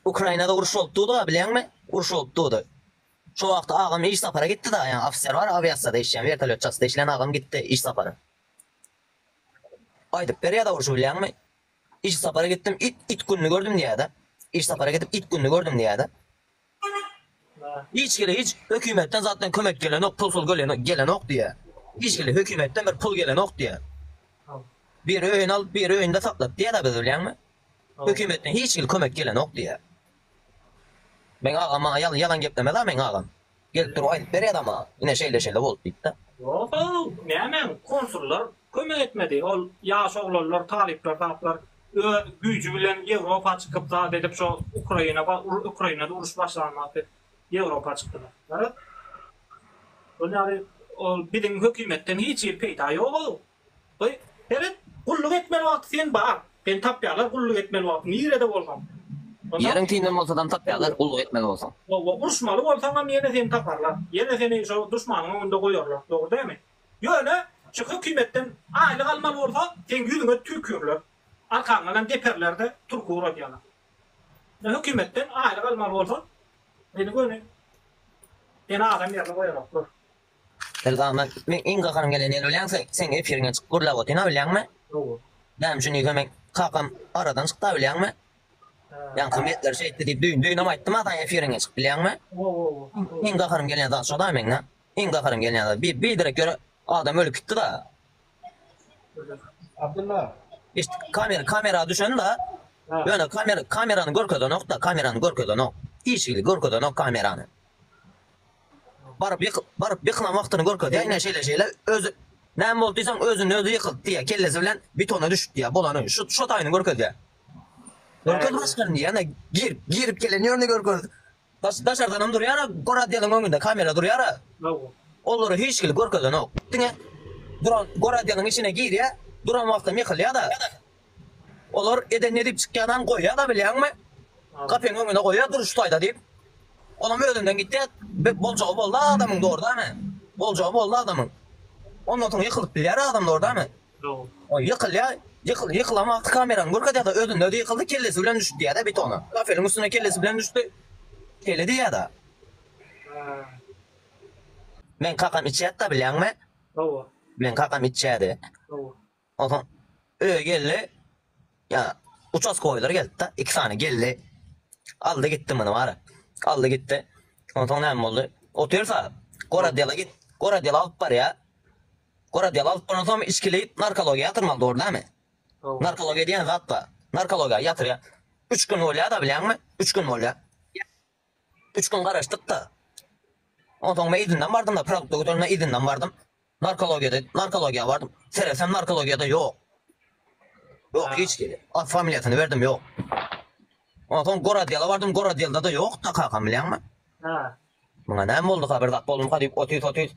Ukrainada uruş bolup durdy-a, bilýäňmi? Uruş bolup durdy. Şo wagt agam iş sapara gitdi-da, ýa ofiser bar, awiasiýada işleýän, wertolýot çatysynda işleýän agam gitdi iş sapara. Aýdyp berýä-de urşy, bilýäňmi? Iş sapara gitdim, it, it gününi gördüm diýýä-de. Iş sapara gidip, it gününi gördüm diýýä-de. Hiç kile hiç hökimetden zatdan kömek gelenok pul pul gölenok gelenok diýä. Hiç kile hökimetden bir pul gelenok diýä. Bir öýün alyp bir öýünde saklat diýäda biz bilýäňmi. Hökimetden hiç kile kömek gelenok diýä. Meň agam maňa ýalan ýalan geplemeda meň agam. Gelip durup aýdyp berýäda maňa ine şeýle şeýle boldy diýipda. Ýoga näme konsullar Kömek etmedi. Ol ýaş oglanlar, talyplar taplar öz güýji bilen Ýewropa çykyp zat edip şo Ukraina bar, Ukrainada uruş başlanmaz diýip Ýewropa çykdylar. Garaz, şol ýaly ol biziň hökümetden hiç hili peýda ýog-ow. Goý, seret, gulluk etmeli wagty sen bar. Seni tapýarlar gulluk etmeli wagty, nirede bolsaň. Ýeriň tinden bolsadam tapýarlar gulluk etmeli bolsaň. Hawa, uruşmaly bolsaňam ýene seni taparlar. Ýene seni şo duşmanyň öňünde goýarlar. Dogry dämi? Ýöne şu hökümetden aýlyk almaly bolsa seň ýüzüňe tükürler, arkaňdanam deperlerde turky uradýalar. Şu hökümetden aýlyk almaly bolsa seni göni seni adam ýerine goýaraklar. Elgama meň iň gahyrym gelen ýeri bilýäňse seň efiriňe çykyp gürläp otyrna bilýäňmi? Hawa. Näme üçin diýsem meň kakam aradan çykda bilýäňmi? Ýaňkym ýetler şeýtdi diýip düýn düýnem aýtdym-a saňa efiriňe çykyp bilýäňmi? Hawa hawa. Iň gahyrym gelýän zat şo-da meň-a. Iň gaharym gelýän zat bir bir derek ýöre adam ölüp gitdida. Abdylla. Eşit kamera kamera düşenda ýöne kamera kamerany görkezenokda kamerany görkezenok. Işigi görkezenok kamerany. Baryp ýyk baryp ýykylan wagtyny görkezýär ine şeýle şeýle özi näme boldy diýseň özüni özi ýykyldy diýýär kellesi bilen betona düşüp diýýär bolany şu şu taýyny görkezýär. Görkez başgany ýene girip girip gelen ýöne görkez. Daşardanam durýara goradeýalyň öňünde kamera durýara olary hiçkili görkezenok diňe duran goradeýalyň içine girýa duran wagtam ýykylýada olar eden nedip çykýanan goýýada bilýaňmi gafeň öňüne goýýa dur şu taýda diýip olam özünden gitýa bet boljagy bolda adamyň dordamy boljagy bolda adamyň ondan soň ýykylyp bilýär adamlar damy. Ol ýykylýar, ýykyl, ýykylan wagty kamerany görkezýärde özünden özi ýykyldy, kellesi bilen düşüp diýýärde betona. Kafeliň üstüne kellesi bilen düşdi. Şeýle diýýärde. Meň kakam içýärdi-da bilýäňmi? Hawa. Meň kakam içýärdi. Hawa. Onsoň öýe geldi. Ýa uçastkoýlar gelipdi, iki sany geldi. Aldy gitdi muny bary. Aldy gitdi. Onsoň näme boldy? Otyrsa, goraddela git. Goraddela alyp barýa. Goraddela alyp baransoň hem içkili narkologiýa ýatyrmaly, dogry dämi? Dogry. Narkologiýa diýen zat bar. Narkologiýa ýatyrýa. Üç gün bolýa-da, bilýäňmi? Üç gün bolýa. Üç gün garaşdyk-da, onsoň men yzyndan bardym-da, produkt dökülenine yzyndan bardym. Narkologiýada, narkologiýa bardym. Seresem narkologiýada ýok. Ýok, hiç kili. At familiýasyny berdim, ýok. Onsoň gorodýela bardym, gorodýelda-da ýok-da kakam, bilýäňmi? Muňa näme bolduka, bir zat bolduka diýip, otuz-otuz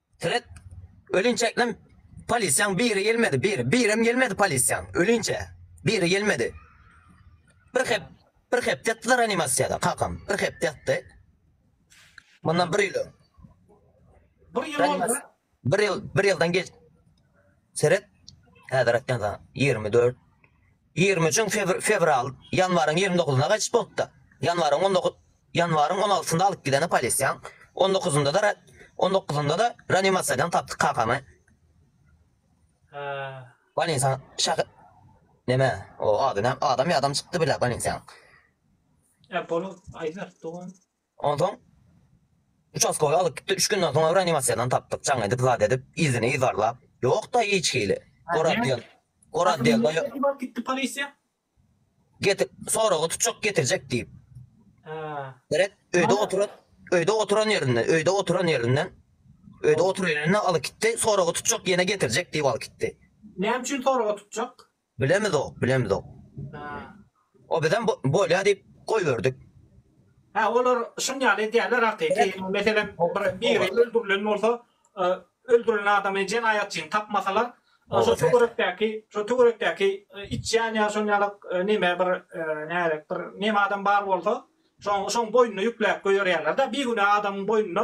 Seret, ölinçeknem polisiýaň biri gelmedi, biri, birem gelmedi polisiýaň, ölinçä, biri gelmedi. Bir hep, bir hepde ýatdylar reanimasiýada, kakam, bir hepde ýatdy. Mundan bir ýyl öň. Bir ýyl boldy. Bir ýyl, bir ýyldan geç. Seret, häzir aýtýan saňa, ýigrimi dört. Ýigrimi üçin fewral, ýanwaryň ýigrimi dokuzyna gaçyp bolupdy. Ýanwaryň on dokuz, ýanwaryň on altysynda alyp gideni polisiýaň, on dokuzynda-da, on dokuzynda-da reanimasiýadan tapdyk kakamy. Bolnisa şahy, neme, o ady näm, adam ýa adam çykdy bile bolnisiýaň. Ä bolup, Aýbert dogan. Onsoň uçastkowy alyp gitdi. Üç günden soň reanimasiýadan tapdyk. Jaň edip, zat edip, yzyny yzarlap. Ýok-da hiç hili. Gorazdýel. Gorazdýelde ýok. Nädip alyp gitdi polisiýa? Getir, soraga tutjak, getirjek diýip. Hä. Gerek, öýde oturan, öýde oturan ýerinden, öýde oturan ýerinden, öýde oturan ýerinden alyp gitdi. Soraga tutjak, ýene getirjek diýip alyp gitdi. Näme üçin soraga tutjak? Bilemizok, bilemizok. O bizem bolýa diýip goýberdik. Hä, olar şun ýaly edýärler hakyky. Meselem, bir biri öldürilen bolsa, öldürilen adamy jenaýatçyny tapmasalar, şo töwerekdäki, şo töwerekdäki içýän ýa şon ýaly neme bir näzik bir neme adam bar bolsa, şoň, şoň boýnuna ýükläp goýberýärler-de, bigünä adamyň boýnuna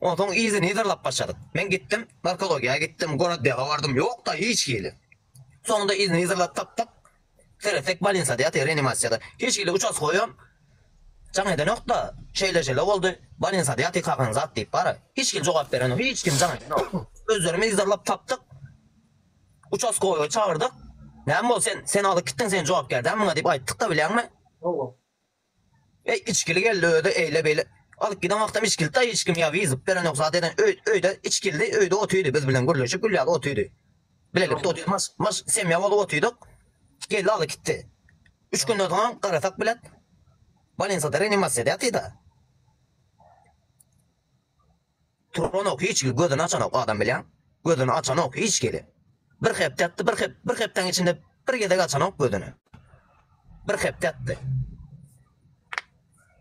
Onsoň yzyny yzarlap başladyk. Men gitdim, narkologiýa gitdim, goroddewa bardym, ýok-da hiç hili. Soňunda yzyny yzarlap tapdyk. Seretsek bolnisada ýatyr, reanimasiýada. Hiç hili uçastkoýam jaň edenok-da, şeýle-şeýle boldy, bolnisada ýatyr kakan zat diýip bara. Hiç hili jogap berenok, hiç kim jaň edenok. Özlerimiz yzarlap tapdyk. Uçastkoýy çagyrdyk. Näme boldy sen, sen alyp gitdiň, sen jogapkär däl muňa diýip aýtdyk-da bilýäňmi. Eý içgili geldi özi eýle beýle alyp giden wagtam içgili taý hiç kim ýa wyzyp berenok zat eden öýde içgilidi öýde otydy biz bilen gürleşip gülýädi otydy bilelikde otydy mars mars semýa bolup otydyk geldi alyp gitdi üç günden soňam garasak bilet bolensada renimasiýada ýatyda. Turanok hiç ki gözüni açanok adam bilýäň gözüni açanok hiç gili bir hepde atdy bir hep bir hepdäň içinde bir gezek açanok gözüni bir hepde atdy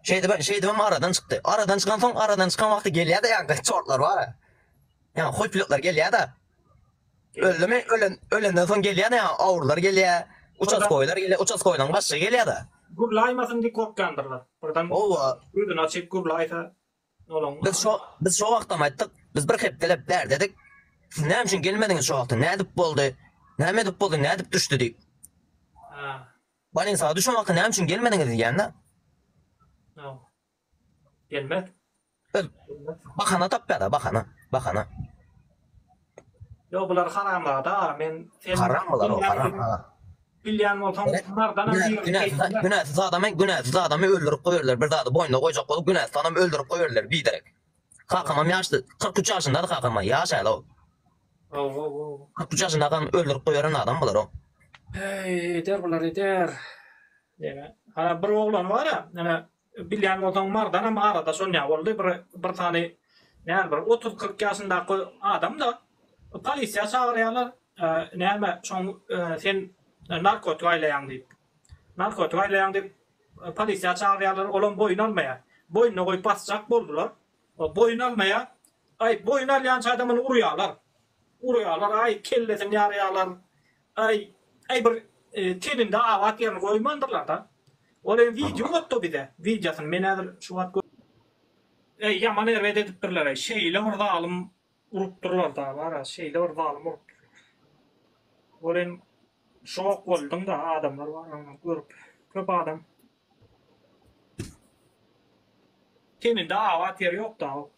şeýdip şeýdibem aradan çykdy aradan çykan soň aradan çykan wagty gelýärdi ýa çortlar bar ýa hoýpluklar gelýärdi öldümi ölen ölenden soň gelýärdi ýa awurlar gelýär uças goýlar gelýär uças goýlaň başy gelýärdi gurlaýmasyn diýip gorkýandyrlar birden owa gözüni açyp gurlaýsa Biz şo wagtam aýtdyk, biz bir hepdeläp bärdedik, siz näme üçin gelmediňiz şo wagtam, nädip boldy, näme edip boldy, nädip düşdi diýip. Bolnisaga düşen wagty näme üçin gelmediňiz diýýän-dä. Bahana tapýar-da, bahana, bahana. Ýok bular haramzada men sen Haram bular o haram ha. Bilýän bolsaň bunlardan hem günäsiz adamy günäsiz adamy öldürip goýarlar bir zady boýnuna goýjak bolup günäsiz adamy öldürip goýarlar biderek. Kakamam ýaşdy 43 ýaşyndady kakama ýaş äl o. Ow ow ow. 43 ýaşynda adam öldürip goýaran adam bular o. Eý eder bular eder. Diýme. Hara bir oglany bar-a, ene Bilýän bolsaň Mardanam arada şonýa boldy bir bir sany näme bir otuz kyrk ýaşyndaky adamda polisiýa çagyrýalar näme şoň sen narkotik aýlaýaň diýip narkotik aýlaýaň diýip polisiýa çagyrýalar olam boýun almaýa boýnuna goýup basjak boldular boýun almaýa aý boýun alýança adamyny urýalar urýalar aý kellesini ýarýalar Aý, aý bir tebinde abat ýerini goýmandyrlarda. Ol hem wideo atdy bize, wideosyny men häzir şu wagt gö. Äý ýaman erbet edipdirlereý şeýle bir zalym urupdyrlarda bara şeýle bir zalym urupdyrlar. Ol hem şok bolduňda adamlar bara ony görüp köp adam. Tebinde abat ýeri ýokda ok.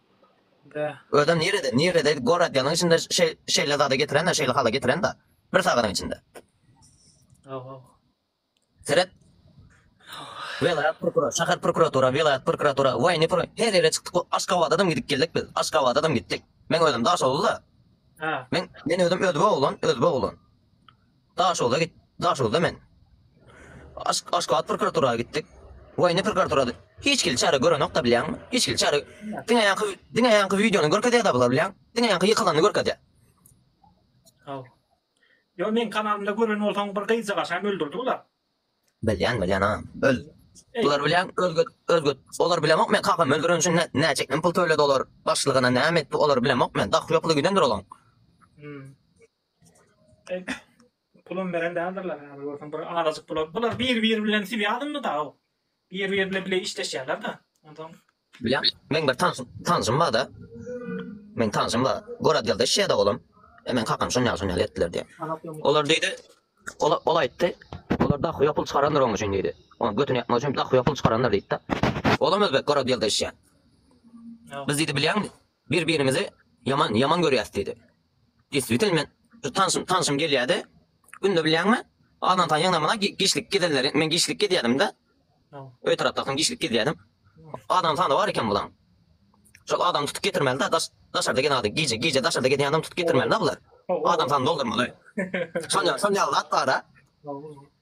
Özem nirede nirede goradyanyň içinde şeýle zada getirenda şeýle hala getirenda bir sagadyň içinde. Seret Welaýat prokuror şahar prokuratura welaýat prokuratura waýny pro her ýere çykdyk aşgabadadam gidip geldik biz aşgabadadam gitdik men özüm daşoguzda men men özüm özbe oglan özbe oglan. Daşoguza git. Daşoguzda men. Aşk, Aşgabat prokuratura gitdik. Woýny prokuraturada hiç hili çäre görenok-da bilýäňmi? Hiç hili çäre. Diňe ýaňky, diňe ýaňky wideony görkezýär-de bular bilýäň. Diňe ýaňky ýykylanyny görkezýär. Haw. Ýo meň kanalymda gören bolsaň bir gyzjagazy hem öldürdi bular. Bilýän, bilýän ha. Öl. Bular bilýän özge özge olar bilemok men kakamy öldüren üçin nä- näçe men pul töledi olar başlygyna näme etdi olar bilemok men dahy ýokly gidendir olaň. Hmm. Pulum beren däldirler häzir görseň bir azajyk pula. Bular bir biri bilen sibi alyndy da. Bir biri bilen bile işleşýärler da. Ondan. Bilýän. Men bir tanşym, tanşym bar da. Men tanşym bar. Gorad geldi işe da olam. E men kakam şun ýa şun ýa etdiler diýen. Olar diýdi. Ola ol aýtdy. Olar da huýa pul çykarandyr oň üçin diýdi. Oň götüni ýapmak üçin da huýa pul çykarandyr diýdi da. Olam özbek gorad geldi işe. Biz diýdi bilýän. Bir-birimizi ýaman, ýaman görýäs, diýdi. Dessutan men şu tanşym, tanşym gelýärdi. Günde bilýäňmi, azantaý ýygnamana giçlik gezenleri, men giçlik gezýärdim-de. Öý tarapdaky giçlik gezýärdim. Adam sany bar eken bulaň. Şol adam tutup getirmeli-de, daş, daşarda gelen adam, gije, gije daşarda gezen adam tutup getirmeli-de bular. Adam sany doldurmaly. Şol ýaly, şol ýaly zat bar-a.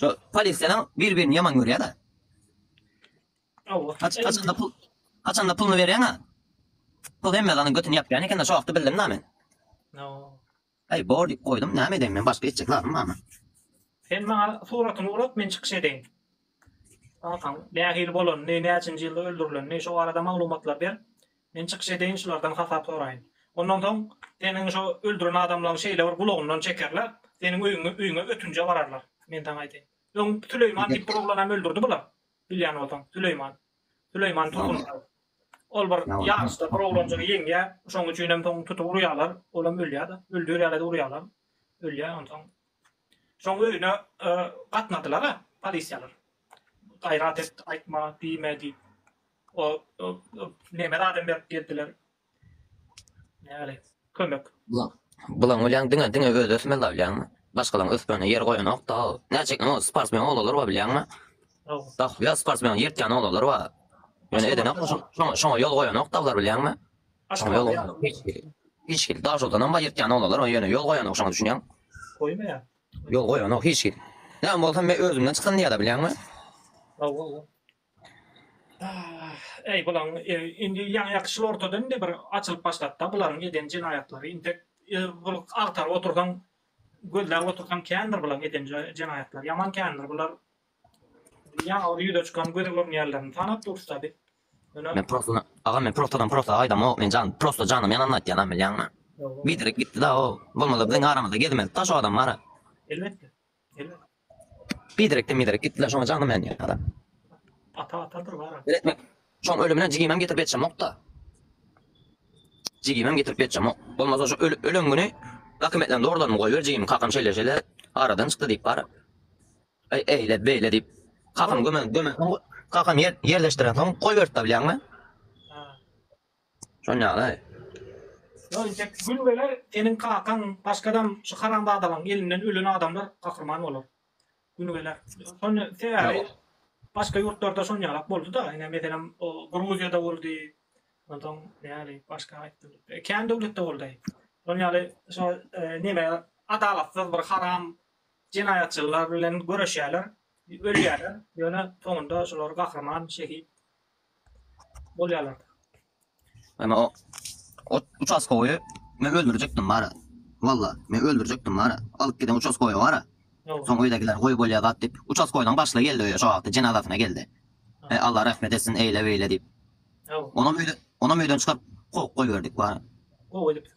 Şu polisiýalar bir-birini ýaman görýär-de. Haç, haçanda pul, haçanda puluny berýäň-a. Pul hemme zanyň götüni ýapýan eken-de, şu wagtda bildim-de men. Aý, bor diýip goýdum, näme edeýin men, başga etjek zadym barmy? Sen maňa suratyny urat, men çykyş edeýin. Kakaň nähili bolanyny, näçinji ýylda öldürilenini, şo barada maglumatlar ber. Men çykyş edeýin şulardan hasap soraýyn. Ondan soň seniň şo öldüren adamlaň şeýle bir gulagyndan çekerler, seniň öýüňe öýüňe ötünje bararlar. Men saňa aýdaýyn. Öň Süleýman diýip bir oglanam öldürdi bular. Bilýän bolsaň, Süleýman. Süleýman Turgunbaýew. Ol bir ýaryşda bir oglanjygy ýeňýär. Şoň üçinem soň tutup urýarlar. Olam ölýär-de. Öldürýärler-de urýarlar. Ölýär. Onsoň şoň öýüne gatnadylar-a polisiýalar. Gaýrat et, aýtma, diýme diýip. O neme zadam berip geldiler. Näle kömek. Bulan bolyan dine dine öz ösmeli la bilyan mi? Başkalan ösmeli yer koyan ok da. Ne çek ne o sportsmen olalar var bilyan mi? Da ya sportsmen yertyan olalar var. Yani eden ok şuna şuna yol koyan ok da var bilyan mi? Şuna yol koyan ok. Hiç kim da şoldan ama yertyan olalar var. Yani yol koyan ok şuna düşünyan. Koyma ya. Yol koyan ok hiç kim. Ne ama olsam ben özümden çıkan diye da bilyan mi? Allah Allah. Äý bulaň indi ýaňy-ýaňy şul ortada indi bir açylyp başlady-da bularyň eden jenaýatlary intek bir agtaryp otursaň gözläp otursaň kändir bulaň eden jenaýatlary ýaman kändir bular ýaňy bir ýüze çykan göze görünýänlerini tanap dursa biz ýöne Men prosto agam men prostodan prosta aýdamok men jan prosto janym ýananda aýtýanam bilýäňmi biderek gitdi-da o bolmasa biziň aramyzda gezmezdi-da şo adam mara. Elbetde. Biderek miderek gitdiler şoňa janym men ýada. Ata atadyr bara. Beretmek. Şoň ölümine jigimem getirip ýetjemokda. Jigimem getirip ýetjemok. Bolmasa şu ölüp ölen güni dokumentlerini dogrylaryny goýber jigim kakam şeýle şeýle aradan çykdy diýip bara. Eý eýle beýle diýip kakam gömen gömen kakam ýerleşdiren soň goýberipdi bilýäňmi? Şol ýagdaý. Ýok intek gün geler seniň kakaň başgadam şu haramzadalaň elinden ölen adamlar gahryman bolar. Güni geler. Şony sebäbi başga ýurtlarda şon ýalak boldy da ine meselem o Gruziýada boldy. Onsoň näli başga aýtdym. Kän döwletde boldy. Şol ýaly şo neme adalatsyz bir haram jenaýatçylar bilen göreşýärler ölýärler ýöne soňunda şular gahryman şehit Bolýarlar. Emma o ot uçaskowy men öldürjekdim bara. Walla, men öldürjekdim bara. Alyp giden uçaskowy bara. Soň öýdäkiler goý bolýa zat diýip, uçaskowynyň başlygy geldi öýe şo wagty jenazasyna geldi. He, Alla rehmet etsin eýle-beýle diýip. Onam öýden, onam öýden çykaryp kowup goýberdik bara. Gowy edipsiň.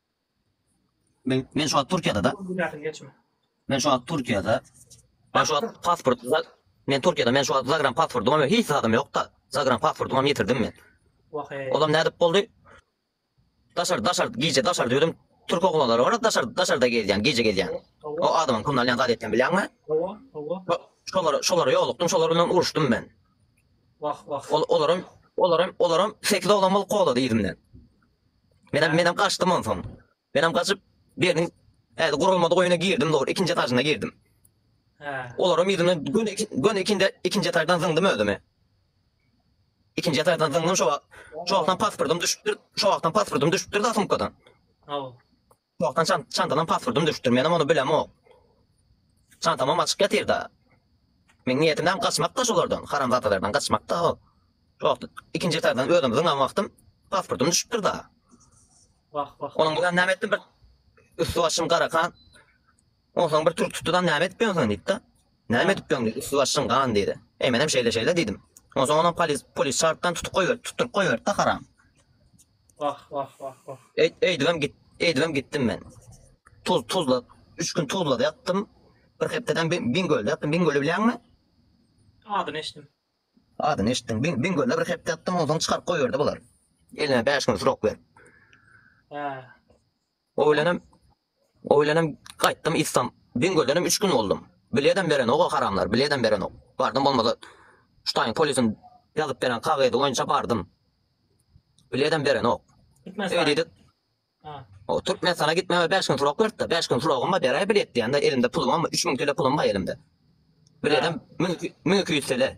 Men men şu wagt Türkiýede da. Men şu wagt Türkiýede. Men şu wagt pasport men Türkiýede men şu wagt zagram pasportym hem hiç zadym ýok da. Zagram pasportym hem ýitirdim men. Olam nädip boldy? Daşar daşar gije daşar düýdüm. Türk oglanlary bar daşar daşarda gezýän gije gezýän. O adamyň kümden ýan zat etdim bilýäňmi? Hawa hawa. Şolara şolara ýolukdym şolar bilen uruşdym men. Wah wah. Olaram olaram olaram 8 oglan bolup kowlady ýerimden. Menem menem gaçdym onsoň. Menem gaçyp biriniň häli gurulmadyk öýüne girdim dogry ikinji etažyna girdim. Hä. Olaram ýüzüne göni göni ikinde ikinji etaždan zyňdym özümi. İkinci etaždan zyňdym şo wagt. Şo wagtam pasportym düşüpdir. Şo wagtam pasportym düşüpdir da sumkadan. Hawa. Gulakdan çan çantadan passwordym düşüpdir menem ony bilemok çantamam açyk ýatyrda meň niýetimem gaçmakda şolardan haramzadalardan gaçmakda hop şo ikinji etardan özüm zyňan wagtym passwordym düşüpdir da Wah wah. Onuň bilen näme etdim bir üstü başym garakan Onsoň bir türk tutdydam näme edip ýöňsen diýipdi. Näme edip ýöň diýdi, üsti başyň gan diýdi. Eý menem şeýle şeýle diýdim. Onsoň onam polis polis çagyrypdan tutup goýberdi, tutduryp goýberdi-de haram. Wah wah wah wah. Eý eýdibem git eýdibem gitdim men. Tuz tuzla üç gün tuzlada ýatdym. Bir hepdeden Bin Bingölde ýatdym. Bingöli bilýäňmi? Adyny eşitdim. Adyny eşitdim. Bin Bingölde bir hepde ýatdym, onsoň çykaryp goýberdi bular. Eline bäş gün srok berip. Hä. Oýlanyp, oýlanyp gaýtdym yztam. Biňňildenem üç gün boldum. Biletem berenok-a haramlar, biletem berenok. Bardym bolmasa ştaýyň polisiň ýazyp beren kagyzy boýunça bardym. Biletem berenok. Öý diýdik. O Türkmenistana gitmeme bäş gün turak beripdi. Bäş gün turagym bar, beräý bilet diýende elimde pulumam, üç müň tele pulum bar elimde. Biletem müň iki, müň iki ýüz tele.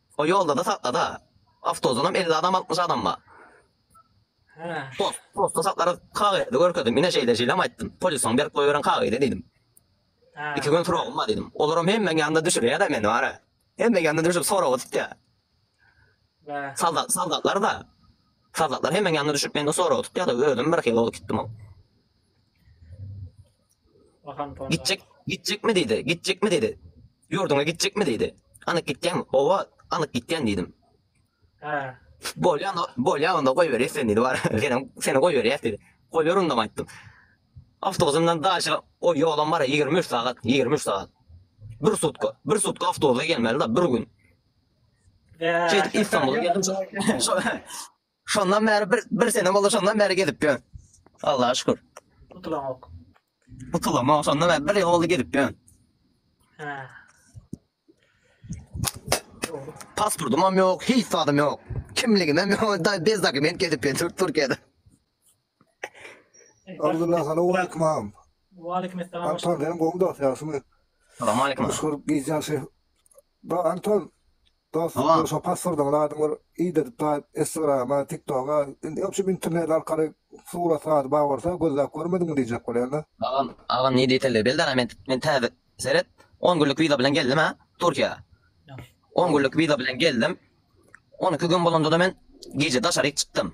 O ýolda-da sakla-da. Awtozynam elli adam altmyş adam bar. Postda saklarys. Kagyzy görkezdim. Ine şeýle-şeýlem aýtdym. Polisiň berip goýberen kagyzy diýdim. Iki gün suragym bar diýdim. Olaram hemmeň ýanynda düşürýär-de meni bara. Hemmeň ýanynda düşürip soraga tutýar. Soldat, soldatlar-da. Soldatlar hemmeň ýanynda düşürip menden soraga tutýar-da, özüm birhili bolup gitdim-ow. Gitjek, gitjekmi diýdi, gitjekmi diýdi. Ýurduňa gitjekmi diýdi. Anyk gitýäňmi? Hawa, anyk gitýän diýdim. Hä. Bolýa, bolýa onda goýber sen diýdi. Bar, senem seni goýberýäs diýdi. Goýber onda aýtdym. Awtobusyndan daşa o ýolam bar 23 sagat, 23 sagat. Bir sutka, bir sutka awtobusa gelmeli da bir gün. Şeýdip İstanbul'a geldim. Şondan bäri bir bir sene boldy şondan bäri gezip ýör. Allaha şükür. Gutulamok. Gutulamok şondan bäri bir ýyl boldy gezip ýör. Hä. Pasportym hem ýok, hiç zadym ýok. Kimligim hem ýok, da bez dokument gezip ýör Türkiýede. Abdulla salowmaleýkim agam. Waleýkim essalam. Anton sen gowy dost ýagşymy? Salowmaleýkim. Meşhur gijäň şeý. Ba Anton dost Salam. şo pasworduna adyň bir idedip daýyp Instagrama, TikToga, indi ýok şu internet arkaly surat sady bar bolsa gözläp görmediňmi diýjek bolýan-da. Agam, agam ne detalleri belli däl-ä men men täze seret on günlük wiza bilen geldim-ä Türkiýä. On günlük wiza bilen geldim. On iki gün bolanda-da men gije daşaryk çykdym.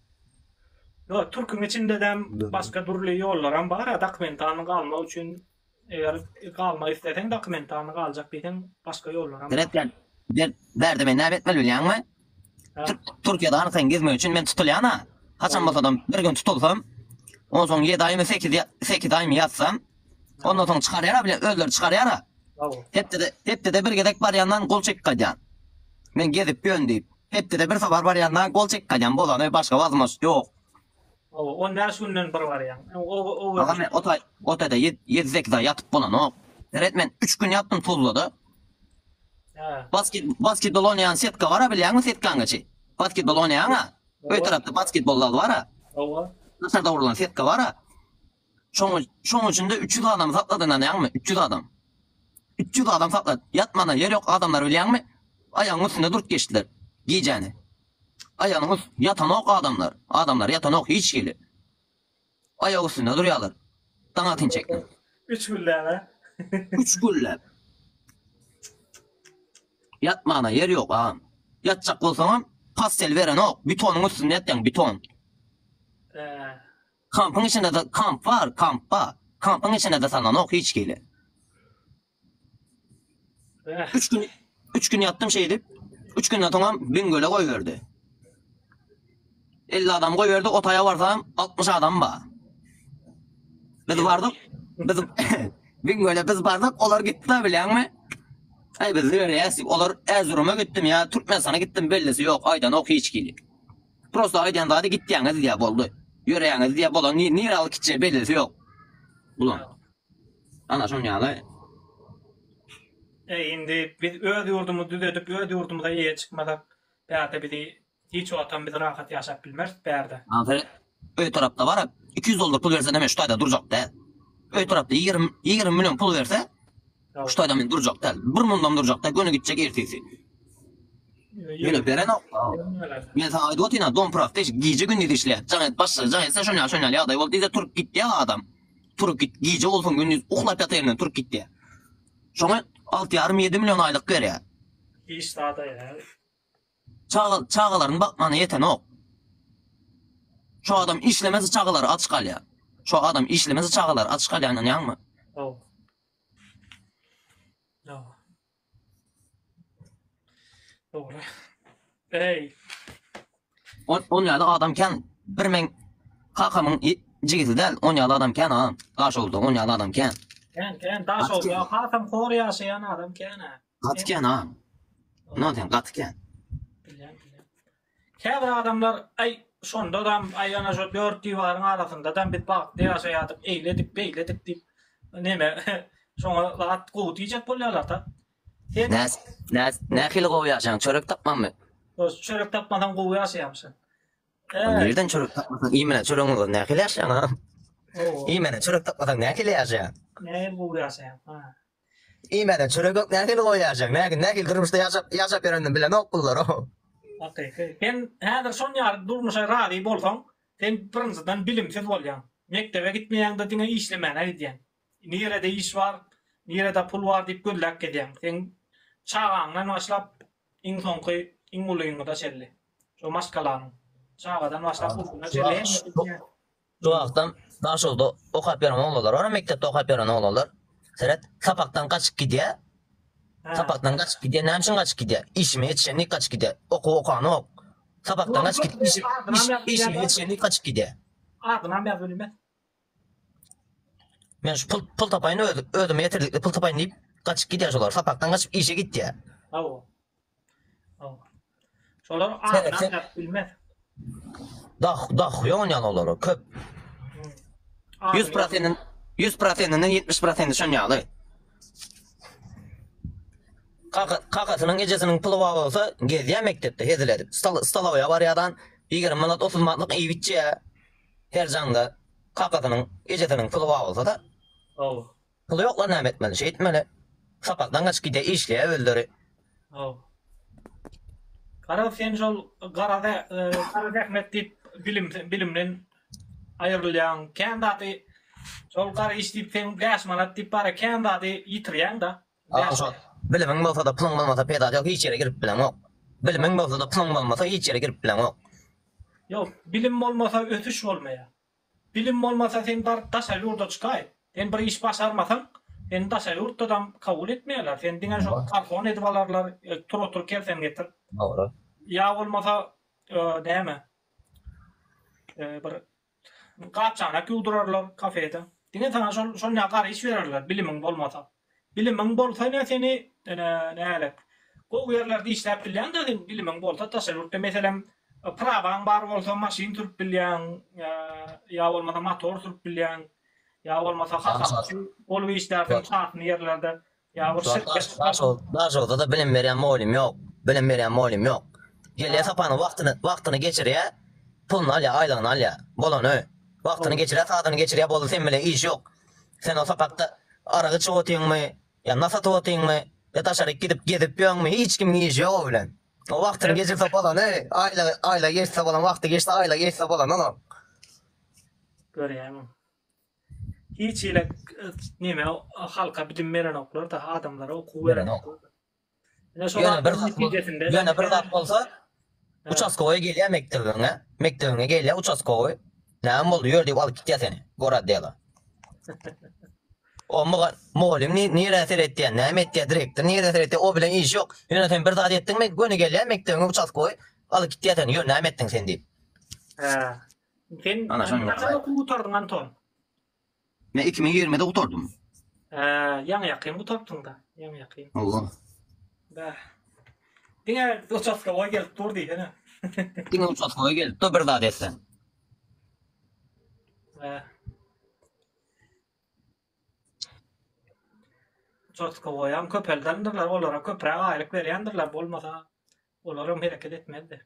Ýok, türküň içindedem başga dürli ýollaram bar-a, dokumentany galmak üçin, eger galmak isleseň, dokumentany galjak diýseň, başga ýollaram bar. Seretgen, sen bärde meni näme etmeli bilýäňmi? Türkiýede anyklaýyn gezmek üçin men tutulýan-a. Haçan bolsadam, bir gün tutulsam, onsoň ýedi aýmy, sekiz aýmy ýatsam, ondan soň çykarýar-a, bile özleri çykarýar-a. Hepdede bir gezek barýandan gol çekip gaýdýan. Men gezip ýön diýip. Hepdede bir sowar barýanda gol çekip galýan bolany başga wazmos ýok. Hawa on bäş günden bir barýaň. Agam men ota otede ýedi sekiz aý ýatyp bolanok. Seret men üç gün ýatdym tuzlada. Hä. Basket basketbol oýnaýan setka bara bilýäňmi setkaňa çi? Basketbol oýnaýaňa? Öý tarapda basketbol zal bara. Hawa. Daşarda gurlan setka bara. Şoň, şoň üçin-de üç ýüz adamy sakla dynanýaňmy? Üç ýüz adam. Üç ýüz adam saklat. Ýatmana ýer ýok adamlary bilýäňmi? Aýagyň üstünde durup geçdiler gijäni. Aýagynyň üst, ýatanok adamlar. Adamlar ýatanok hiç hili. Aýak üstünde durýarlar. Daň atyn çekdim. Üç gülläp-ä. Üç gülläp. Ýatmana ýer ýok agam. Ýatjak bolsaňam, pastel berenok. Bitonyň üstünde ýatýaň, biton. Ä, Kampyň içinde-de kamp bar, kamp ba. Kampyň içinde-de sananok hiç kili. Üç gün, üç gün ýatdym şeýdip. Üç günden soňam Biňgöle goýberdi. Elli adam goýberdi, o taýa barsam, altmyş adam ba. Biz bardyk, biz Biňgöle biz bardyk, olar gitdiler bilýäňmi? Aý biz ýöreýäs diýip, olar Äzuruma gitdim ýa Türkmenistana gitdim bellisi ýok, aýdanok hiç kili. Prosta aýdýan zady gitýäňiz diýýär boldy. Ýöreýäňiz diýýär bolan ni nirä alyp gitjegi bellisi ýok. Bulaň. Ana şon ýaly. Eý indi biz öz ýurdumyzy düzedip öz ýurdumyza eýe çykmasak bärde bizi hiç wagtam biz rahat ýaşap bilmeris bärde. Ahyry öý tarapda bar iki ýüz dollar pul bersenem şu taýda durjak däl. Öý tarapda ýigrimi ýigrimi million pul berse Şu toýda men durjak däl. Bir mundam durjak däl, göni gitjek ertesi. Ýöne berenok-da. Men saňa aýdyp otyryn-a, dom praktiş, gije-gündiz işleýär. Jaň et, başla, jaň etse şonýal, şonýal ýagdaý bol diýse turup gitýä adam. Turup git, gije bolsun, gündiz uklap ýatyr ýerinden turup gitýä. Şoňa alty ýarym, ýedi million aýlyk berýär. Hiç zada ýaramaz. Çaga, çagalaryny bakmana ýetenok. Şu adam işlemese çagalary aç galýar. Şu adam işlemese çagalary aç galýar, ynanýaňmy? Hawa. On ýaly adam kän. Bir meň kakamyň jigisi däl. On ýaly adam kän agam. Daşoguzda on ýaly adam kän. Kän kän Daşoguzda kakam hor ýaşaýan adam kän-ä. Gaty kän agam. Ynha diýen gaty kän. Käbir adamlar, Aý, şondadam, aý, ana şo dört diwaryň arasynda-dam biz bagtly ýaşaýardyk, eýledik, beýledik diýip, neme, şoňa zat gowy diýjek bolýarlar-da. Sen. Nä, nähili gowy ýaşaýaň, çörek tapmanmy? Dos, çörek tapmasaň gowy ýaşaýamyşyn? Ä. Nirden çörek tapmasaň, iýmän, çöregiň bolsa nähili ýaşaýaň, a? Owo. Iýmän, çörek tapmasaň nähili ýaşaýaň? Nähili gowy ýaşaýaň, a? Iýmäne çöregek nähili goýajaň nägil nägil durmuşda ýaşap ýaşap ýörenini bilenok bunlar o. Hakyky. Sen häzir şon ýaly durmuşa razy bolsaň sen birinjiden bilimsiz bolýaň. Mekdebe gitmeýäňde diňe işlemäne gidýäň. Nirede iş bar, nirede pul bar diýip gözläp gezýäň. Seň çagaňdan başlap iň soňky iň ulyňyda şelli. Şo maşgalanyň. Çagadan başlap ulyna şelli hemmesi diýýän. Şu wagtam Daşogda okap ýören oglanlar bar, mekdepde okap ýören oglanlar. Seret, sapakdan gaçyp gidýär. Sapakdan gaçyp gidýär. Näme üçin gaçyp gidýär? Işime ýetişendik gaçyp gidýär. Okuw okanok. Sapakdan gaçyp gidip iş işime ýetişendik gaçyp gidýär. Adynam ýaz welin men. Men şu pul pul tapaýyn öz özüme ýetirdikli pul tapaýyn diýip gaçyp gidýär şolar. Sapakdan gaçyp işe gitýär. Hawa. Şolar adyny aňlap bilmez. Dah, dah, ýon ýaly olara köp. Ýüz prosentini, ýüz prosentini, ýetmiş prosenti şon ýaly. Kaka, kakasynyň ejesiniň puly bar bolsa, gezýär mekdepde hezil edip. Stal, stalowa barýardan, ýigrimi manat, otuz manatlyk iýip içýär. Her janda kakasynyň ejesiniň puly bar bolsa-da. Hawa. Puly ýoklar näme etmeli şeýtmeli sapakdan gaçyp gidýä işleýä özleri. Haw. Garaz sen şol gara gara zähmet diýip bilim bilimden aýrylýaň kän zady şol gara iş diýip sen bäş manat diýip bara kän zady ýitirýäňda. Aga şo bilimiň bolsada puluň bolmasa peýdasy ýok hiç ýere girip bileňok. Bilimiň bolsada puluň bolmasa hiç ýere girip bileňok. Ýok bilim bolmasa ösüş bolmaýa. Bilim bolmasa sen bar daşa ýurda çykaý. Sen bir iş başarmasaň seni daşa ýurtdadam kabul etmeýärler. Seni diňe şol garhon edip alarlar, tur otur kersen getir. Dogry. Ýa bolmasa näme bir gap-çanak ýuwdurarlar kafede. Diňe saňa şol şonýa gara iş bererler bilimiň bolmasa. Bilimiň bolsa ene seni ene nälet. Gowy ýerlerde işläp bilýäňdä sen bilimiň bolsa daşary ýurtda meselem prawaň bar bolsa maşyn sürüp bilýäň ýa bolmasa motor sürüp bilýäň ýa bolmasa hasapçy bolup işlärsiň çakyny ýerlerde ýa bir şirket Daşoguzda-da bilim berýän mugallym ýok, bilim berýän mugallym ýok. Gelýä sapany wagtyny wagtyny geçirýä puluny alýa aýlygyny alýa bolany wagtyny geçirýä sazyny geçirýä boldy sen bile iş ýok. Sen o sapakda arak içip otyňmy, ýa nas atyp otyňmy, ýa daşaryk gidip gezip ýöňmi, hiç kimiň işi ýok o bilen. O wagtyň gecesi bolany, aýla, aýla geçse bolan wagty geçdi, aýla geçse bolan onuň. Görýäňmi? Hiç hili neme halka bilim berenoklar-da, adamlara okuw berenoklar. Ýöne bir zat, ýöne bir zat bolsa, uçaskowa gelýär mekdebiňe, mekdebiňe gelýär uçaskowy. Näme boldy, ýör diýip alyp gitýär seni, gorad diýýär. O muga, mugallym nirä seretýär, näme etýär, direktor nirä seretýär, o bilen işi ýok. Ýöne sen bir zat etdiňmi, göni gelýär mekdebiňe uçaskowy, alyp gitýär seni, ýör näme etdiň sen diýip. Hä. Sen näçe okuw gutardyň Anton? Men iki ming ýigrimide gutardym. Hä, ýaňy ýakyn gutartdyň-da, ýaňy ýakyn. Hawa. Bäh. Diňe uçastkoga gelip dur diýsene. Diňe uçastkoga gelip dur bir zat etseň. Bäh. Uçastkoga ýam köpeldendirler, olara köpräk aýlyk berýändirler, bolmasa olar hem hereket etmezdi.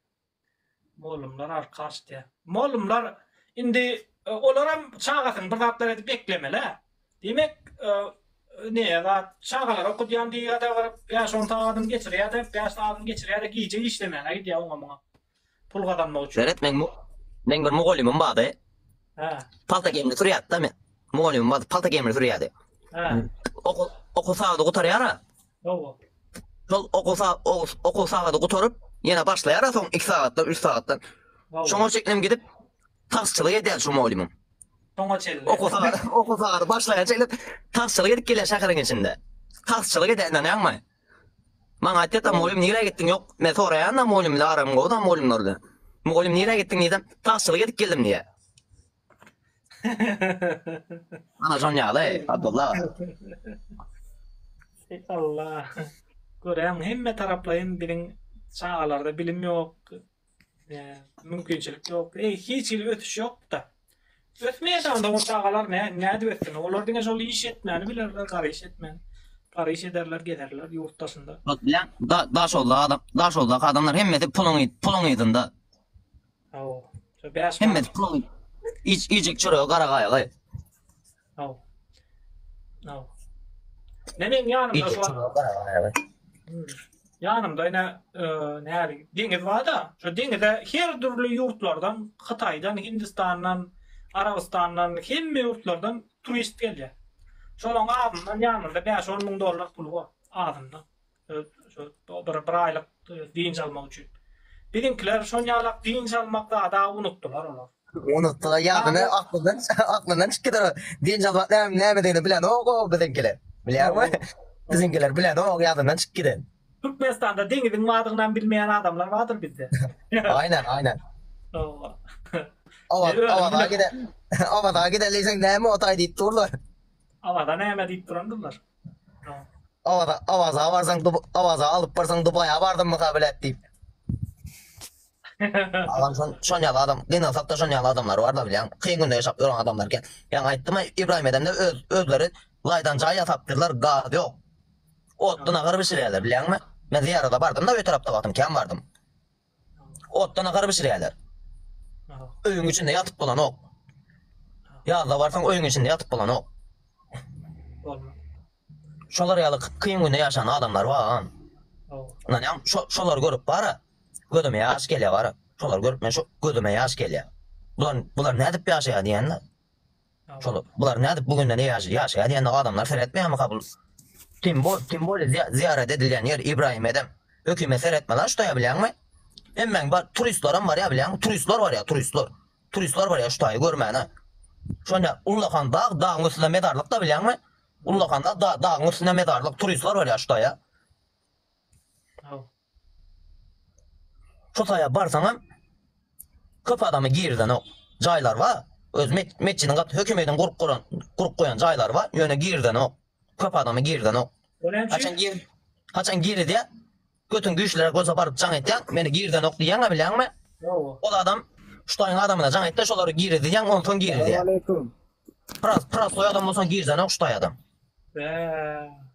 Mollumlar arka açdya. Mollumlar indi olaram çagasyny bir zatlar edip eklemelä. Diýmek näe zat çagalary okudýan diýýada baryp bäş on sagadyny geçirýäde bäş sagadyny geçirýäde gije işlemäne gidýä oňa muňa pul gazanmak üçin. Belet meň meň bir mugallymym bardy. Hä. Palta gemini sürýärdi-de men. Mugallymym bardy palta gemini sürýärdi. Hä. Okuw okuw sagady gutarýara. Şol okuw sagady gutaryp, ýene başlaýar-a soň iki sagatdan, üç sagatdan. Şoňa çenli hem gidip, taksçylyk edýär şu mugallymym. Şoňa çenli. Okuw sagady, okuw sagady başlaýan çenli taksçylyk edip gelýär şäheriň içinde. Taksçylyk edýär, ynanýaňmy? Maňa aýtýar-da, mugallym nirä gitdiň? Ýok, men soraýan-da mugallym bilen aram gowy-da mugallymlar bilen. Mugallym nirä gitdiň diýsem, taksçylyk edip geldim diýýär. Ana şon ýaly, Abdulla. Allah. Göräýiň, hemme taraplaýyn biziň çagalarda bilim ýok, mümkinçilik ýok. Eý, hiç hili ösüş ýok-da. Ösmeýän onda o çagalar nä, nädip össün? Olar diňe şol iş etmäni bilerler, gara iş etmäni. Gara iş ederler, gezerler ýurt daşynda. Ot bilen, da, daşoguzly adam, daşoguzdaky adamlar hemmesi puluň, puluň yzynda. Aw. Şu 5 Hemme manat. puluň iç iýjek çöregi gara gaýa gaýa. Aw. Aw. Ne meň ýanymda Iýjek şu an- çöregi gara gaýa gaýa. Yanımda yine e, näli deňiz var da şu deňize her türlü yurtlardan Hytaýdan, Hindistandan, Arabistandan hemme yurtlardan turist gelýär. Şonuň azyndan ýanynda 5-10 müň dollar pul bar azyndan. Öz şo bir bir aýlyk dynç almak üçin. Biziňkiler şonýalak dynç almak zada unutdylar olar. Unutdylar ýagyny aklyndan aklyndan çykydyr. Dynç almak näme nämedigini bilenok o biziňkiler. Bilýärmi? Biziňkiler bilenok ýadyndan çykyp giden. Türkmenistanda deňiziň badygynam bilmeýän adamlar bardyr bizde. Aýnan aýnan. Hawa. Awa awa gide. Awa da gide leýseň näme otaý diýip durlar. Awa da näme diýip durandyrlar. Awaza, Awaza barsaň, Duba- Awaza alyp barsaň Dubaýa bardym mysa bilet diýip. Agam şon şon ýaly adam gynalsakda şon ýaly adamlar barda bilýäň. Kyn günde ýaşap ýören adamlar eken. Ýaňy aýtdym-a Ibrahim edemde öz özleri laýdan jaý ýasapdyrlar, gaz ýok. Otda nahar bişirýärler bilýäňmi? Men zyýarada bardym-da öý tarapda wagtym kän bardym. Otda nahar bişirýärler. Öýüň içinde ýatyp bolanok. Ýazda barsaň öýüň içinde ýatyp bolanok. Şolar ýaly kyn günde ýaşan adamlar bagam. Ynanýaň, şolary görüp bara, gözüme ýaş gelýär bara. Şolary görüp men şu gözüme ýaş gelýär. Bular bular nädip ýaşaýar diýýän-de. Şolar, bular nädip bu günde neýaşy, ýaşaýa diýende adamlar seretmeýärmika bul tim bol tim boli zyýarat edilýän ýer Ibrahim edem hökümet seretme lan şutaýa bilýäňmi hemmäň bar turistlaram barýa bilýäňmi turistlar barýa turistlar turistlar barýa şutaýy görmäne şonda ullakan dag dagyň üstünde mezarlykda bilýäňmi ullakan dag dagyň üstünde mezarlyk turistlar barýa şutaýa. Şu saýa barsaňam köp adamy girizenok. Jaýlar bar. Öz metjidiň gaty hökümediň gurup guran, gurup goýan jaýlary bar. Ýöne girizenok. Köp adamy girizenok. O näme üçin? Haçan gir? Haçan girizýä? Götüň güýçliräk bolsa baryp jaň etýäň. Meni girizenok diýýäň-ä bilýäňmi? Hawa. Ol adam şu taýyň adamyna jaň etde şolary girizýäň onsoň girizýä. Salam aleýkum. Pras, prasoý adam bolsaň girizenok şu taýy adam. Bäh.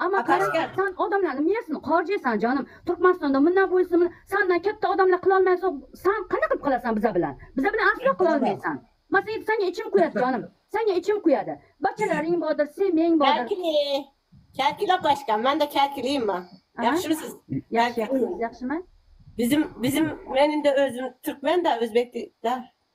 Amma Kazakstan odamlarynyň miýesini korjeýsan janym, Türkmenistanda mundan buýsnyn sandan kepde odamla kylolmaýansoň san kany gyp kylasan bize bilen? Bize bilen asla kylolmeýsan. Masaýew saňa içim kuýady janym. Saňa içim kuýady. Baçala riň bodur, si miň bodur. Käkili! Käkila başkan, manda käkilima. Ýagşymy siz? Ýagşy ýagşy siz ýagşymy? Bizim bizim men indi özüm türkmen da özbek dal.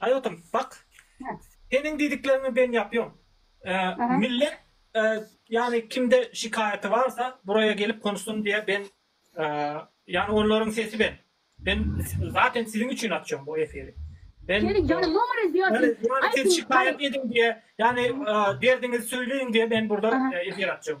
Aý otur bak seniň diýdikleriňi ben ýapýom millet ýany kimde şikaýaty barsa buraýa gelip konuşsun diýe ben ýany onlaryň sesi ben ben zaten siziň üçin açýom bu efiri ben seni ýany nomar edýädim aý siz şikaýat ediň diýe ýany derdiňizi söýleýiň diýe men burda efir açýom.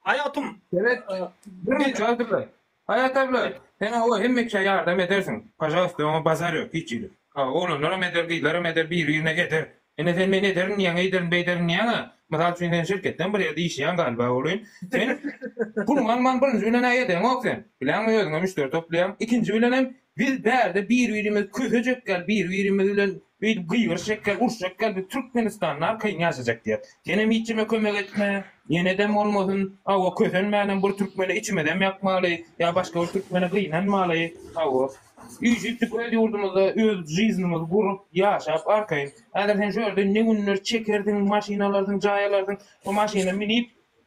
Haýatym. Sebet Birnäçe aýy durlar. Haýat abla, sen hawa hemmekä ýardam edersiň. Pažalowsta oňa bazar ýok hiç ýerde. Hawa oglanlaram eder, gyzlaram eder, biri-birine eder. Ine sen men ederin diýýäň, eýderin, beýderin diýýäň-ä. Mysal üçin sen şirketdeň bir ýerde işleýäň galyba ogly. Sen puluňy alman birinji bilen-ä edeňok sen. Bileňmi özüňe müşderi toplaýaň. Ikinji bilenem Biz bärde bir-birimiz kösejek ýaly bir-birimiz bilen beýdip gygyryşjak ýaly uruşjak ýaly biz Türkmenistanda arkaýyn ýaşajak diýýäs. Senem hiçjeme kömek etme, ýenedem bolmasyn, hawa kösenmänem bir türkmene içimizem ýakmaly ýa başga bir türkmene gynanmaly, hawa. Üýşüpdik öz ýurdumyzda öz žyznymyzy gurup, ýaşap arkaýyn. Häzir sen şu ýerde ne günler çekersiň, maşyn alarsyň, jaý alarsyň, şo maşyna minip,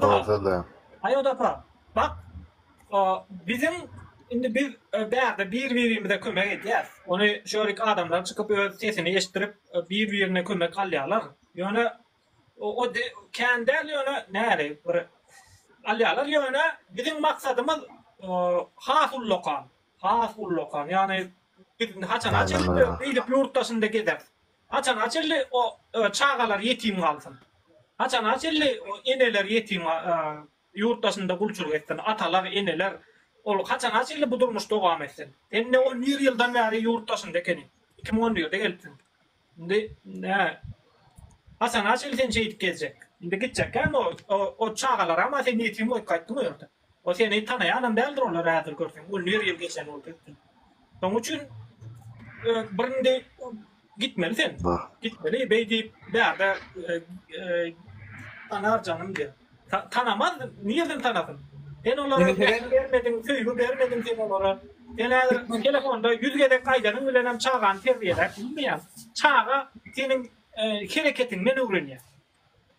Bolsa-da. Aýoda apa, bak, biziň indi biz bärde bir-birimize kömek edýäs. Ony şu ýerik adamlar çykyp öz sesini eşitdirip bir-birine kömek alýarlar. Ýöne o kän däl ýöne nähili bir alýarlar. Ýöne biziň maksadymyz has ullakan, has ullakan. Ýagny biz haçana çenli beýdip ýurt daşynda gezeris. Haçana çenli o çagalar ýetim galsyn? Haçana çenli o eneler ýetim ýurt daşynda gulçulyk etsin? Atalar, eneler ol haçana çenli bu durmuş dowam etsin? Sen ne on bir ýyldan bäri ýurt daşynda ekeniň. Iki müň on birde gelipsiň. Indi nä? Haçana çenli sen şeýdip gezjek? Indi gitjekkäm o çagalaram-a sen ýetim goýup gaýtdyň o ýerde. O seni tanaýanam däldir olar häzir görseň on bir ýyl geçen boldy üstünden. Şoň üçin bir indi gitmeli sen. Gitmeli beý diýip bärde tanar janym diýip. Tanamaz nirden tanasyn. Sen olara bermediň, bermediň, söýgi bermediň sen olara. Sen häzir telefonda ýüz gezek aýdanyň bilen hem çagany terbiýeläp bilmeýäň. Çaga seniň hereketiňden öwrenýär.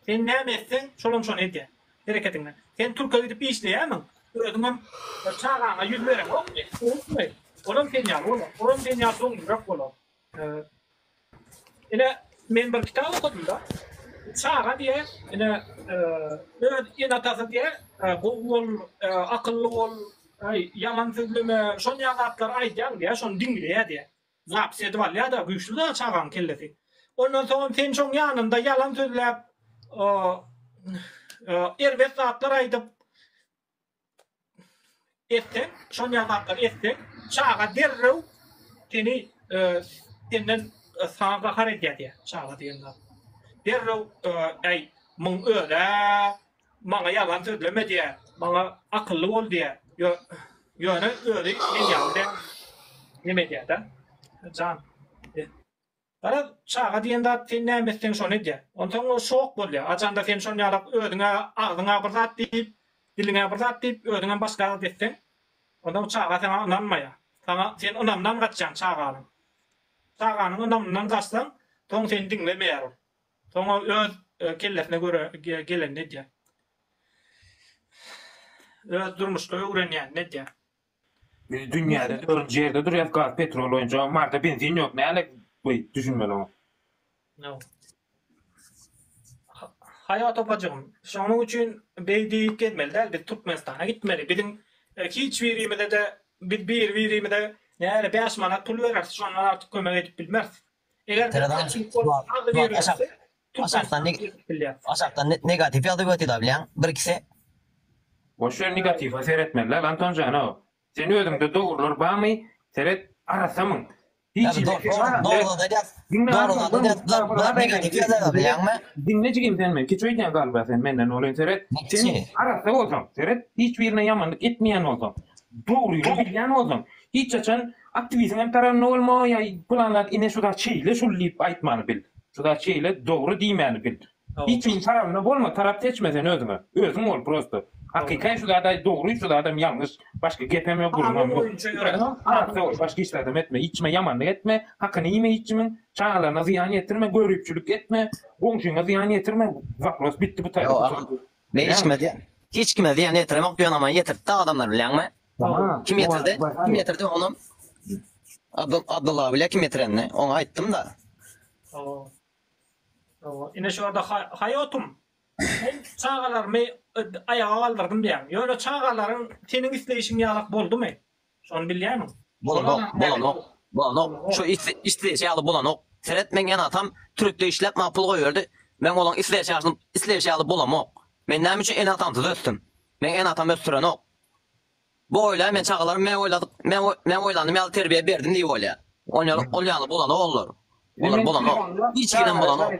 Sen näme etseň, şolam şony edýär. Hereketiňden. Sen türke gidip işleýärmiň? Özüňem bir çagaňa ýüz bereňokmy? Unutmaý, olam sen ýaly bolar. Olam sen ýaly doňňurak bolar. Ine, men bir kitap okadym-da. Çaga diýe, ine, öz ene-atasy diýe, gowy bol, akylly bol, ýalan sözleme, şonýaly zatlar aýdýar diýe, şony diňleýär diýe. Zapis edip alýada güýçli zat çagaň kellesi. Ondan soňam sen şoň ýanynda ýalan sözläp erbet zatlar aýdyp etseň şonýa zatlar etseň çaga derrew seni senden saňa gahar edýä diýä çaga diýen zat. Derrew äý muň özä maňa ýalan sözleme diýýär, maňa akylly bol diýýär, ýöne özi men ýaly däl. Neme edýär-dä, jan? Garaz, çaga diýen zat sen näme etseň şony edýär. Onsoň ol şok bolýar. Ajanda sen şon ýalak özüňe agzyňa bir zat diýip, diliňe bir zat diýip, özüňem başga zat etseň, onda bu çaga saňa ynanmaýar. Saňa sen ynamdan gaçýaň çaganyň. Çaganyň ynamyndan gaçsaň, soň seni diňlemeýär ol. Soňa öz kellesine göre gelenini edýär. Öz durmuşda öwrenýänini edýär. Biz dünýäde dörünji ýerde durýas gaz petrol boýunça marda benzin ýok näle bu düşünmeli oňa. Ýok. Haýat opajygym şonuň üçin beý diýip gezmeli däl biz Türkmenistana gitmeli biziň hiç birimizede biz bir birimize näle bäş manat pul bereris şondan artyk kömek edip bilmeris. Eger-de açyk bolup ýazgy berilse, Türkmenistana girip bilýär. Aşakdan negatiw ýazgy götida bilýäň, bir ikisi. Boş ýer negatiwa seretmezler Anton janow. Sen özüňde dogrular bamy seret arassa myň. Hiç Diňle jigim sen men kiçi öýdýäň galba sen menden olyny seret. Sen arassa bolsaň seret hiç birine ýamanlyk etmeýän bolsaň dogryny bilýän bolsaň hiç haçan Aktiwiziň hem taranda bolmagy ýa pylan zat ine şu zat şeýle şul diýip aýtmany bil. Şu zat şeýle dogry diýmäni bil. Hiç kimiň tarabynda bolma, tarap seçme sen özüňe. Özüň bol prosto. Hakykaý şu zat aýt dogry şu zadam ýalňyş. Başga gepem ýok gürrüňem ýok. Sag bol başga hiç zadam etme. Hiç kime ýamanlyk etme. Hakyny iýme hiç kimiň. Çagalaryna zyýan ýetirme. Göripçilik etme. Goňşyňa zyýan ýetirme. Wapros bitdi bu taýda. Men içmez diýen. Hiç kime zyýan ýetiremok diýen ama ýetirtdi adamlar bilýäňmi? Kim ýetirdi? Kim ýetirdi onam Abdylla bilýä kim ýetirenini. Oňa aýtdym-da. Hawa. Hawa. Ine şorda haýotum. Men çagalarymy aýaga galdyrdym diýýäň. Ýöne çagalaryň seniň isleýşiň ýalak boldumy? Şony bilýämiň? Bolanok, bolanok, bolanok. Şu isleýşi ýaly bolanok. Seret, meň ýene atam Türkde işläp, maňa pul goýberdi. Meň olaň isleýşi ýaly bolamok. Men näme üçin ene-atamsyz ösdüm? Meň ene-atam ösdürenok. Bu oýlaýar, men çagalarym men oýladyk, men oýlandym ýaly terbiýe berdim diýip oýlaýar. Ol ýaly bolanok olar. Olar bolanok. Hiç giden bolanok.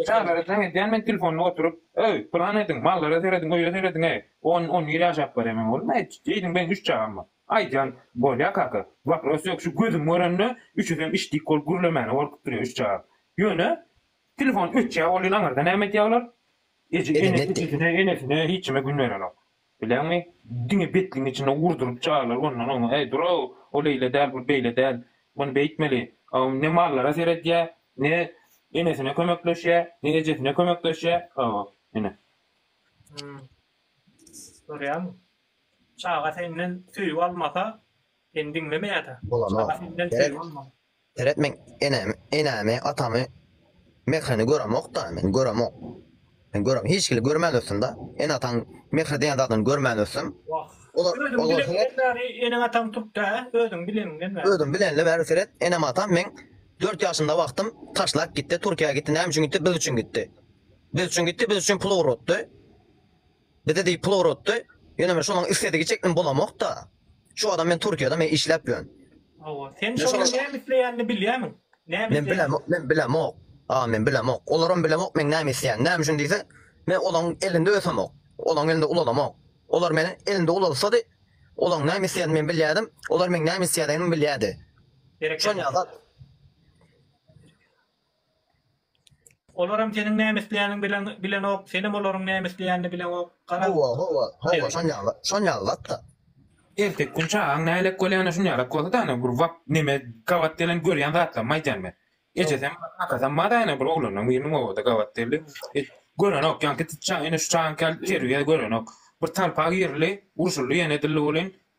Çagalara jaň edýän men telefonda oturyp, Öý, pylan ediň, mallara serediň, öýe serediň-eý. On on ýyl ýaşap barýaman oglum, aýt, diýdim, meň üç çagam bar. Aýdýan, Bolýa kaka, wapros ýok, şu gözüm görende, üçüsem işdik bolup gürlemäne gorkup durýa üç çagam. Ýöne, telefon öçýä bolýyn aňyrda näme edýä olar? Eje, ene, ejesine, enesine, hiç kime gün berenok. Bilýäňmi, diňe betligiň içinde urduryp çaglar ondan oňa, Heý, dur-ow, ol eýle däl, bu beýle däl, muny beýtmeli. Hawa, ne mallara seredýär, ne enesine kömekleşýär, ne ejesine kömekleşýär. Hawa, ine. Hum. Görýäňmi? Çaga senden söýgi almasa, Seni diňlemeýärä. Bolanok. Seret men enemi, enemi, atamy, mehrini göremok-da, men göremok. Men görem, hiç kili görmän ösdüm da. Ene ataň mehri diýen zadyny görmän ösdüm. Wah. Olar, olar seret. Özüň bilen bäri eneň ataň turkda, hä? Özüň bileniňden bäri. Özüm bilenle bäri seret, enem atam meň dört ýaşymda wagtym taşlap gitdi, Türkiýä gitdi. Näme üçin gitdi? Biz üçin gitdi. Biz üçin gitdi, biz üçin pul ugratdy. Bizi diýip pul ugratdy. Ýöne men şonuň isledigi çekdim bolamokda. Şu adam men Türkiýede men işläp ýörün. Hawa. Sen şonuň näme isleýänini bilýämiň? Näme Men isleýän? bilemok, men bilemok. A men bilemok. Olaram bilemok meň näme isleýänimi. Näme üçin diýseň, men olaň elinde ösemok. Olaň elinde ulalamok. Olar meni elinde ulalsady, olaň näme isleýänini men bilýädim, olar meň näme isleýädigimi bilýädi. Şon Berekella. ýa zat. Olaram seniň näme isleýäniň bilenok, senem olaryň näme isleýänini bileňok. Gara. Howwa, howwa, howwa, şonýaly, şonýaly zat-da. Erteki gün çagaň nälelik bolýany şunýalak bolsa-da, ana, bir wagt neme gabat gelen görýän zatlarymy aýdýan men. Ejesem, kakasam bar-a, ana, bir oglanlaryň biriniň obada gabat geldi. Görenok, ýaňky çag, ine, şu çagaňky ýaly terbiýe görenok. Bir talpa girli, urşuldy ýene dilli welin.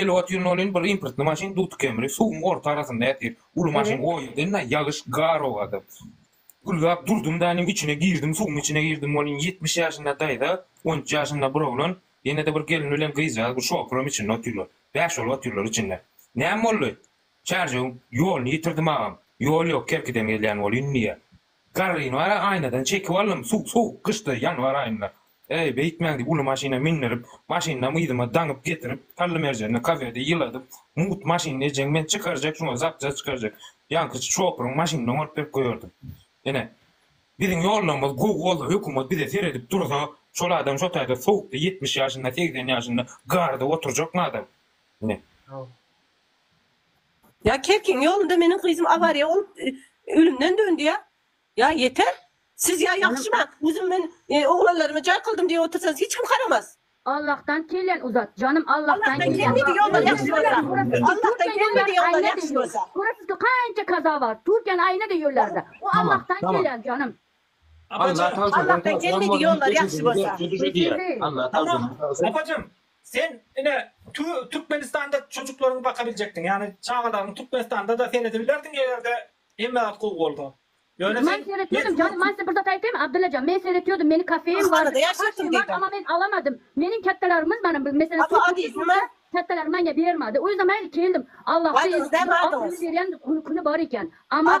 Elwat ýyl bolyn bir imprtny maşyn dut kemri suwuň orta arasynda ätir. Uly maşyn o ýerden-ä ýagyş gar owady. Gürläp durdum da nim içine girdim suwuň içine girdim bolyn ýetmiş ýaşynda daýza on üç ýaşynda bir oglan ýene-de bir gelin bilen gyzjagaz bir şopuram içinde otyrlar bäş bolup otyrlar içinde. Näme boldy? Çärjewiň ýoluny ýitirdim agam. Ýol ýok kerkiden gelýän bolyn indi ýa. Garryny bara aýnadan çekip aldym, suw sowuk gyşdy, ýanwar aýynda. Eý, beýtmäň diýip uly maşyna mindirip, maşyndam yzyma daňyp getirip, Tallymerjende kafede ýyladyp, mugt maşyny ejeň men çykarjak şuňa zapças çykarjak, ýaňkyçy şopuryň maşynyndan bolup berip goýardym. Ine, biziň ýollarymyz gowy bolsa, hökümet bize seredip dursa, şol adam şo taýda sowukda ýetmiş ýaşynda, segsen ýaşynda garda oturjakmy adam? Ine. Ýa kerkiň ýolunda meniň gyzym awariýa bolup ölümden döndi ýa. Ýa ýeter. Siz ýa ýagşyma özüm men oglanlarymy jaý kyldym diýip otyrsaňyz hiç kim haramaz. Allahdan kellen uzat janym Allahdan kellen uzat ýollar ýagşy bolsa Allahdan kelmedi ýollar ýagşy bolsa. Göresiz ki kança kaza bar Türkiýäniň aýna deýýollerde o Allahdan kelen janym. Apajan Allahdan gelmedi ýollar ýagşy bolsa. Apajan sen ine Türkmenistanda çocuklaryňy bakabiljekdiň ýagny çagalaryňy Türkmenistandada seredibilerdiň egerde hemme zat gowy bolsa. Ýöne sen seretmedim jany man size bir zat aýtaýmy Abdyllajan men seretýodym meni kafeim bar bar ama men alamadym meniň kättelerimiz manam bir mesele kättelerimiz maňa bermadi o ýüzden maýa keldim Allahdan berýän güni bar eken ama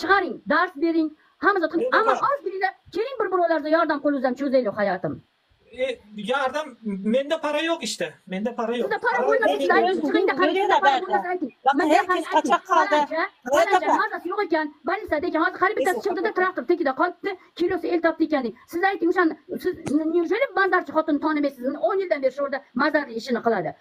Çygaryň, dars beriň. Hamyzyň aman az diline keýin bir buralarda ýardam kol uzan çözeýli haýatym. Ýardam mende para ýok işte mende para ýok. Sizde para bolmasa siz aýdyň çygyň da kary sizde para bolmasa aýdyň. Mende her kim kaçak kaldy. Falanja mazasy ýok eken bolnisada eken hazir kary bittesi çykdyda traktor tekide galypdy kilosy el tapdy eken diýip siz aýdyň şony siz nirjeli bazarçy hotuny tanamesyzmi on ýyldan beri şorda mazarly işini kylady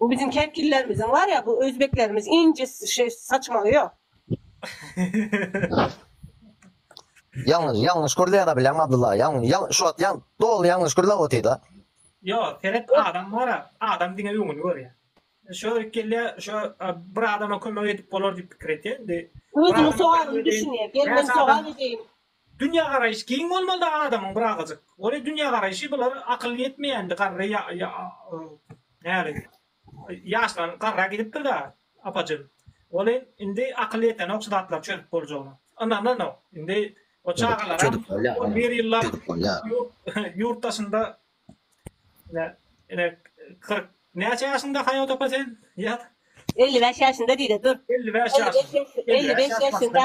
Bu biziň kepillerimiziň bar ya bu özbeklerimiz ince şey saçmagy yok. Ýalňyş, ýalňyş gürläp bilen Abdylla. Ýal, ýal, şu wagt ýal, doly ýalňyş gürläp otyrda. Yo, seret adam bara, adam diňe öňüni görýär. Şo ikili şo bir adama kömek edip bolar diýip pikir etýär. Özüni sogalyny düşünýär. Gel men sogaly deýin. Dünýägaraýyş giň bolmalyda adamyň bir azajyk. Ore dünýägaraýşy bular akyl ýetmeýändi garry ýa ýa näli ýaşlan garra gidipdirda apajyn. Ore indi akyl ýetenok şu zatlary çözüp boljagyna. Ynananok. Indi o çagalaram on bir ýyllap ýurt daşynda ine ine kyrk näçe ýaşyňda Haýat opa sen ýaz. Elli bäş ýaşynda diýde dur. Elli bäş ýaşynda. Elli bäş ýaşynda.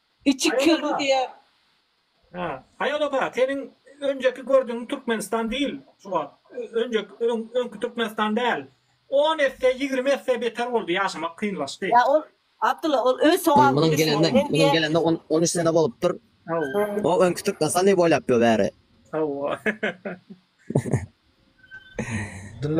Içi kirli diýer. Hä. Haý ol oba, seniň önjeki gördügiň Türkmenistan dil şu wagt. Önjek öňki Türkmenistan däl. On esse, ýigrimi esse beter boldy, ýaşamak kynlaşdy. Ýa ol Abdylla ol öz sogaby Munuň gelende, munuň gelende on üç sene bolupdyr. O öňki Türkmenistan diýip oýlapdyr bäri. Hawa.